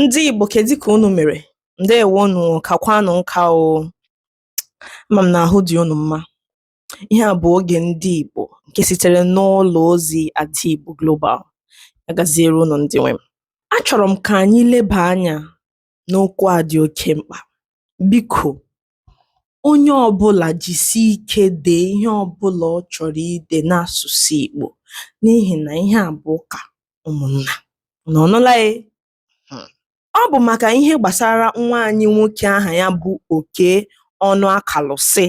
Ndị Igbo kedụ ka unu mere? Ndewonụ kakwanụ nka o. Ama m na ahụ dị unu mma. Ihe a bụ oge ndị Igbo nke sitere n'ụlọ ozi Ada Igbo Global. Ya gaziere unu ndị nwe m. Achọrọ m ka anyị leba anya n'okwu a dị oke mkpa. Biko, onye ọbụlà jìsì ike dèe ihe ọbụlà ọ chọ̀rọ̀ idè n'asụ̀sụ̀ ìgbò n'ihì nà ihe à bụ̀ ụkà ụmụ̀nnà unu anụla e hmm. ọ bụ̀ màkà ihe gbàsara nwa anyị nwokē ahà ya bụ okey ọnụakàlụ̀sị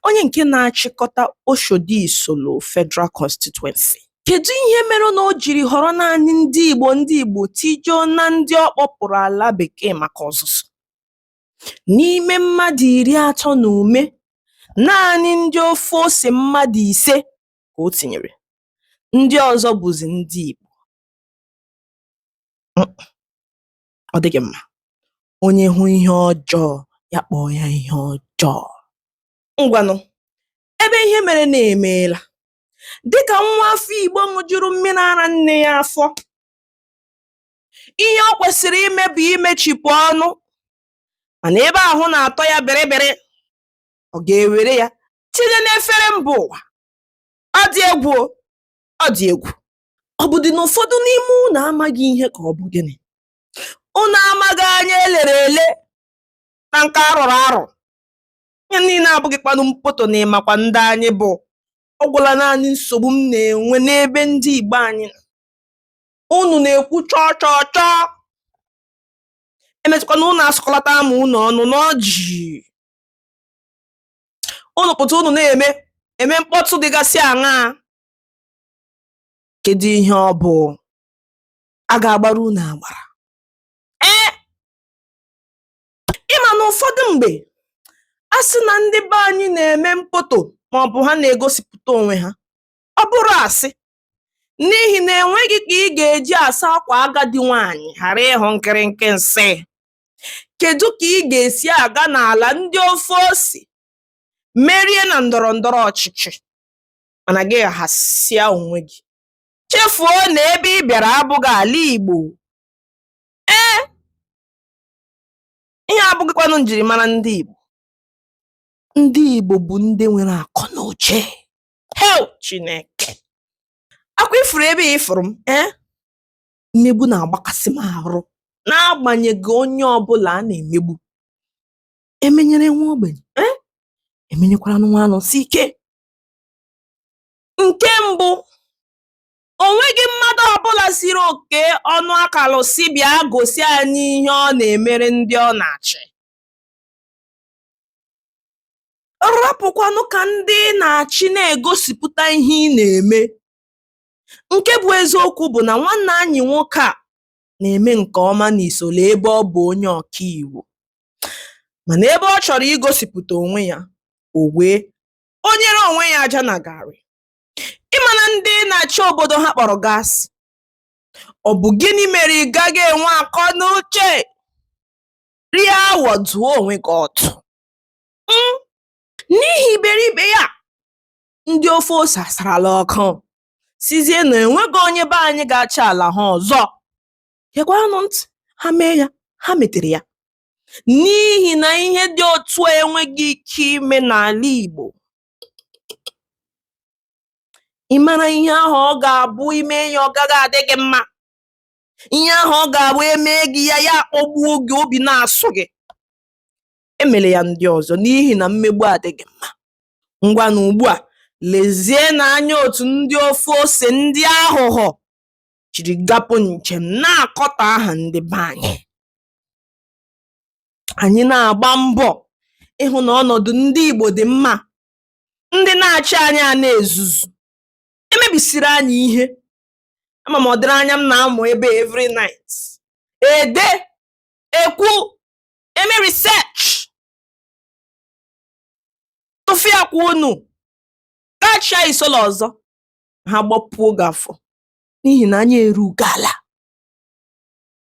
onye ǹke na-achịkọta oshòdi ìsòlò federal constituency kèdu ihe mere nà o jìrì họ̀rọ naanị ndị ìgbò ndị ìgbò tijuo na ndị ọ kpọ̄pụ̀rụ̀ àla bèkee màkà ọ̀zụ̀zụ̀ N'ime mmadụ iri atọ na ụma, naanị ndị ofe ose mmadụ ise ka o tinyere, ndị ọzọ bụzi ndị Igbo. Ọ dịghị mma. Onye hụ ihe ọjọọ, ya kpọọ ya ihe ọjọọ. Ngwanụ, ebe ihe merenụ emeela. Dịka nwa afọ Igbo ṅụjuru mmiri ara nne ya afọ, ihe o kwesịrị ime bụ imechipụ ọnụ mana ebe ahụ na-atọ ya bịrịbịrị ọ ga-ewere ya tinye n'efere mba ụwa ọ dị egwu ọ dị egwu ọ bụdị na ụfọdụ n'ime unu amaghị ihe ka ọ bụ gịnị unu amaghị anya elere ele na nke arọrọ arọ ihe niile abụghịkwanụ mpoto na ịmakwa ndị anyị bụ ọ gwụla naanị nsogbu m na-enwe n'ebe ndị Igbo anyị nọ unu na-ekwu chọọ chọọ chọọ emetụkwana unu asụkọlata ama unu ọnụ n'ọjị unu pụta unu na-eme eme mkpọtụ dịgasị aṅaa kedu ihe ọ bụ a ga-agbara unu agbara ee ị ma na ụfọdụ mgbe a sị na ndị be anyị na-eme mkpọtụ maọbụ ha na-egosipụta onwe ha ọ bụrụ asị n'ihi na enweghị ka ị ga-eji asa akwa agadi nwaanyị ghara ịhụ nkịrịnkị nsị kedu ka ị ga-esi aga n'ala ndị ofe ose merie na ndọrọ ndọrọ ọchịchị mana gị ghasịa onwe gị chefuo na ebe ị bịara abụghị ala Igbo ee ihe a abụghịkwanụ njirimara ndị Igbo ndị Igbo bụ ndị nwere akọ na uche hei chineke akwa ị fụrụ ebe ị fụrụ m ee eh? mmegbu na-agbakasị m arụ n'agbanyeghị onye ọbụla a na-emegbu emenyere nwa ogbenye ee eh? emenyekwara nwa Anosike nke mbụ o nweghị mmadụ ọbụla sịrị Okey Onuakalusi bịa gosi anyị ihe ọ na-emere ndị ọ na-achị rapụkwanụ ka ndị ị na-achị na-egosipụta ihe ị na-eme nke bụ eziokwu bụ na nwanne anyị nwoke a na-eme nke ọma n'Isolo ebe ọ bụ onye ọka iwu mana ebe ọ chọrọ igosipụta onwe ya o wee wunyere onwe ya aja na garị ị ma na ndị ị na-achị obodo ha kpọrọ gị asị ọ bụ gịnị mere ị gaghị enwe akọ na uche rie awọ dụọ onwe gị ọdụ um n'ihi iberibe ya. Ndị ofe ose asarala ọkụ sịzie na e nweghị onye be anyị ga-achị ala ha ọzọ. Gekwaranụ ntị, ha mee ya, ha metere ya. N'ihi na ihe dị otu a enweghị ike ime n'ala Igbo. Ị mara ihe ahụ ọ ga-abụ i mee ya ọ gaghị adị gị mma. ihe ahụ ọ ga-abụ emee gị ya ya akpọgbuo gị obi na-asụ gị emele ya ndị ọzọ n'ihi na mmegbu adịghị mma ngwanụ ugbu a lezienụ anya otu ndị ofe ose ndị aghụghọ jiri gapụ njem na-akọtọ aha ndị be anyị anyị na-agba mbọ ịhụ na ọnọdụ ndị Igbo dị mma ndị na-achị anyị a na-ezuzu emebisiri anyị ihe ama m ọdịrị anya m na-amụ ebe every night ede ekwu eme research tụfịakwa unu ga chịa Isolo ọzọ ha gbapuo gị afọ n'ihi na anya erughị ala